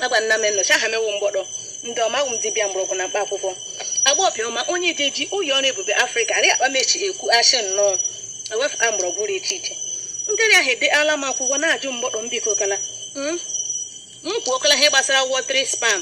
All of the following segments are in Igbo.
agba nna m nnọchi aha mewu mgbọdọ ndị ọma awụ m dibịa mgbọrọgwụ na mkpa akwụkwọ agba ọbịọma onye dị ji ụyọ ọrụ ebube afrịka arị akpa mechi ekwu ashị nnọọ ewefụta mgbọrọgwụ dị iche iche ndị rịa ha edeala m akwụkwọ na-ajụ mgbọdọ m biko kala m kwuo kala ihe gbasara watery sperm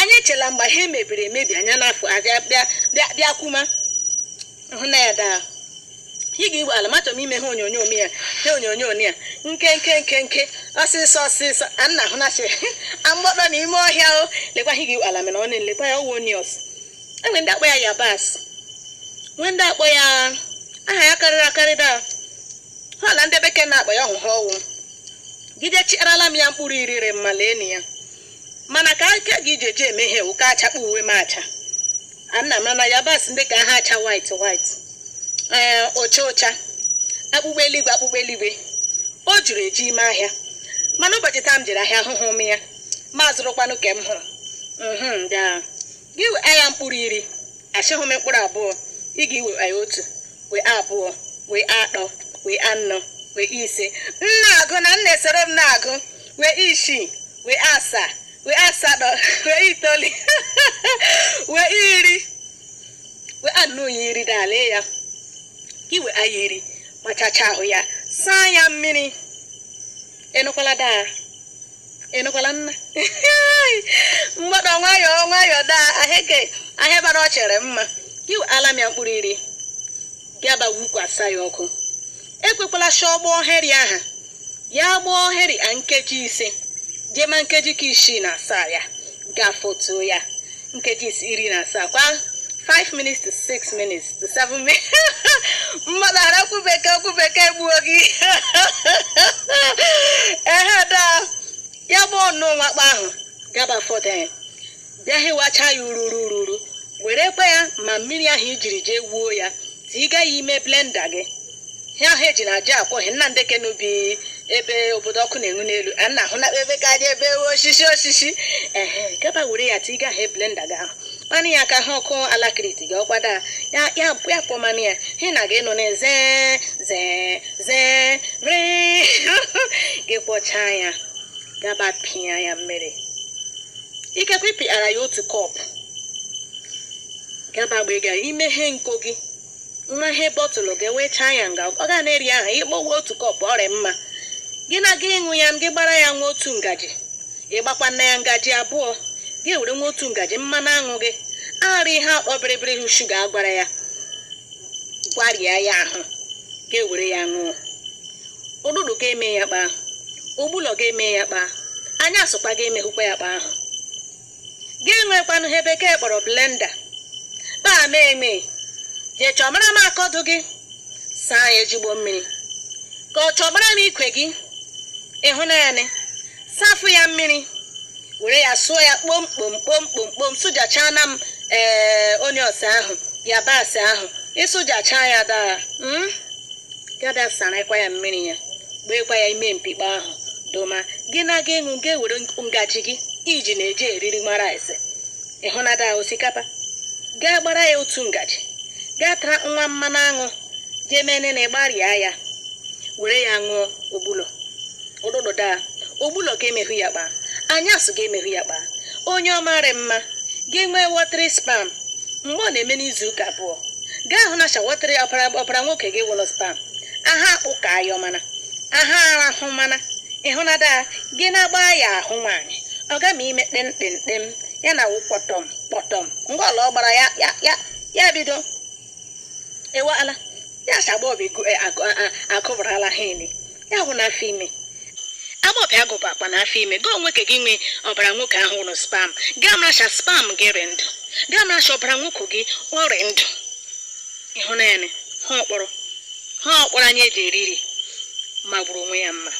anyị echela mgbe ha emebiri emebi anya n'afọ abịa bịa bịa bịa kwuma hụ na ya daa ị ga-igwe ala machọ m ime ha onyonyo m ya ha onyonyo m ya nke nke nke nke ọsịsọ ọsịsọ a nna hụ na amgbọdọ na ime ọhịa o lekwa ha ga-igwe ala mere ọ na-elekwa ya ọwụ onions e nwee ndị akpọ ya yabasị nwee ndị akpọ ya aha ya karịrị akarị daa ha na ndị bekee na-akpọ ya ọhụhụ ọwụ gide chiarala m ya mkpụrụ iri mma lee na ya mana ka aka gị ji eji eme ihe wụ ka achakpọ uwe m acha ana m na yabasị ndị ka ha acha white white ee ocha ocha akpụkpọ eluigwe akpụkpọ eluigwe o juru eji ime ahịa mana ụbọchị taa m jere ahịa ahụhụ m ya ma zụrụkwanụ ka m hụrụ mhm bịa gị wee ya mkpụrụ iri asịghị m mkpụrụ abụọ ị ga-ewe anyị otu wee abụọ wee atọ wee anọ wee ise m na-agụ na m na-esoro m na-agụ wee isii wee asaa wee asatọ wee itoolu wee iri we anọ ya iri n'ala ya gị wee ya iri machacha ahụ ya saa ya mmiri ịnụkwala daa ịnụkwala nna mgbada nwayọọ nwayọọ daa aheke ahịa bara ọ chere mma gị weala m ya mkpụrụ iri gị aba wukwasa ya ọkụ ekwekwala shị ọ gbọọ ihe rị aha ya gbọọ ihe rị a nkeji ise jee ma nkeji ka isii na asaa ya gafotuo ya nkeji is- iri na asaa kwa 5 minutes to 6 minutes to 7 minutes mmadụ arakwu bekee okwu bekee gbuo gị ehe daa ya gbọọnụ nwakpa ahụ gaba foden bịa hịwacha ya ururu ururu werekwa ya ma mmiri ahụ i jiri jee wuo ya tiga ya ime blenda gị ihe ahụ eji na aja akwọ ihe nna ndị kenubi ebe obodo ọkụ na-enwu n'elu a na ahụ na ebe ka aja ebe osisi osisi ehe gaba were ya tiga ya blenda gị ahụ kwọọnụ ya ka ha ọkụ alakiriti gị ọkwada ya ya ya kwọmanụ ya hị na gị nọ na zee zee zee ree gị kwọchaa ya gaba pịa ya mmiri ikekwe ị pịara ya otu kọp gaba agba ego ahụ i meghe iko gị meghe bọtụlụ gị wee chaa ya nga ọ ga na-eri ahụ ị gbawa otu kọp ọ rị mma gị na-aga ịṅụ ya gị gbara ya nwa otu ngaji ị gbakwanụ ya ngaji abụọ gị were nwa otu ngaji mmanụ aṅụ gị aghara ihe akpọ bịrịbịrị wụ shuga agwara ya gwarịa ya ahụ gị were ya ṅụọ ụtụtụ ga-eme ya kpa ahụ ụgbụlọ ga-eme ya kpa anyasụkwa ga-emehụkwa ya kpa ahụ gị enwekwanụ ihe bekee kpọrọ blenda kpaa mee eme jee chọmara m akọdụ gị saa ya ejigbo mmiri gaa chọmara m ikwe gị ịhụnanya m safụ ya mmiri were ya sụọ ya kpomkpom kpomkpom kpom sụjachaa na m ee onions ahụ yabasị ahụ ịsụjachaa ya dara mm? gị abịa sarakwa ya mmiri ya gbeekwa ya ime mkpikpe ahụ doma gị na-aga ịṅụ gị were ngaji gị iji na-eji eriri nwa rice ịhụnada osikapa gaa gbara ya otu ngaji gaa tara nwa mmanụ aṅụ jee mee nene gbarịa ya were ya ṅụọ ogbulo ụtụtụ daa ogbulọ ga-emehụ ya kpaa anyasụ ga-emehụ ya kpaa onye ọmarị mma gị nwee watery sperm mgbe ọ na-eme n'izu ụka abụọ gaa hụ na sha watery ọbara ọbara nwoke gị wụla sperm aha akpụ ka ayọ mana aha arahụ mana ịhụnada gị na-agba ya ahụ nwaanyị ọ ga ma ime kpemkpemkpem ya na wụ kpọtọm kpọtọm ngwa ọla ọ gbara ya ya ya ya bido ewala ya si agbọbị agụbarala ha ime ya hụ n'afọ ime agbọbị agụbụ akpa na afọ ime gị nwoke gị nwee ọbara nwoke ahụ wụla sperm gaa mara sị sperm gị rị ndụ gaa mara sị ọbara nwoke gị ọ rị ndụ ịhụnanya ha ọkpọrọ ha ọkpọrọ anyị eji eriri magburu onwe ya mma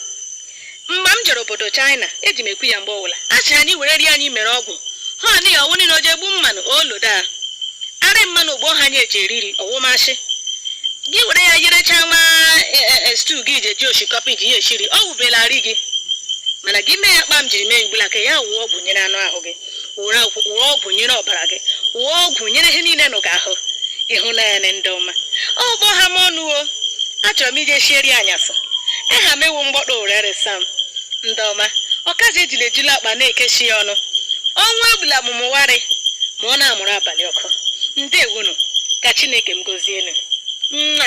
mgbe m jere obodo China eji m ekwu ya mgbe ọbụla a sị anyị were rie anyị mere ọgwụ ha ọnị ya ọwụ niile o ji egbu mmanụ olodo a arị mmanụ ogbo ha anyị eji eriri ọ wụ ma sị gị were ya yerechaa nwa e, e, e, stew gị ji eri oshikapa ji ya eshiri ọ wụbela arị gị mana gị mee ya kpa m jiri mee ugbula ka ya wụọ ọgwụ nyere anụ ahụ gị were ọgwụ- were ọgwụ nyere ọbara gị wụọ ọgwụ nyere ihe niile nọ gị ahụ ịhụnanya m ndị ọma ọ kpọ ha m ọnụ o achọrọ m ije shie eri anyasị aha m ewu mgbọkpọ were resa m ndị ọma ọkazi ejula ejula akpa na-ekechi ya ọnụ ọnwa egbula mụmụwarị ma ọ na-amụrụ abalị ọkụ ndewonu ka chineke m gozienu nna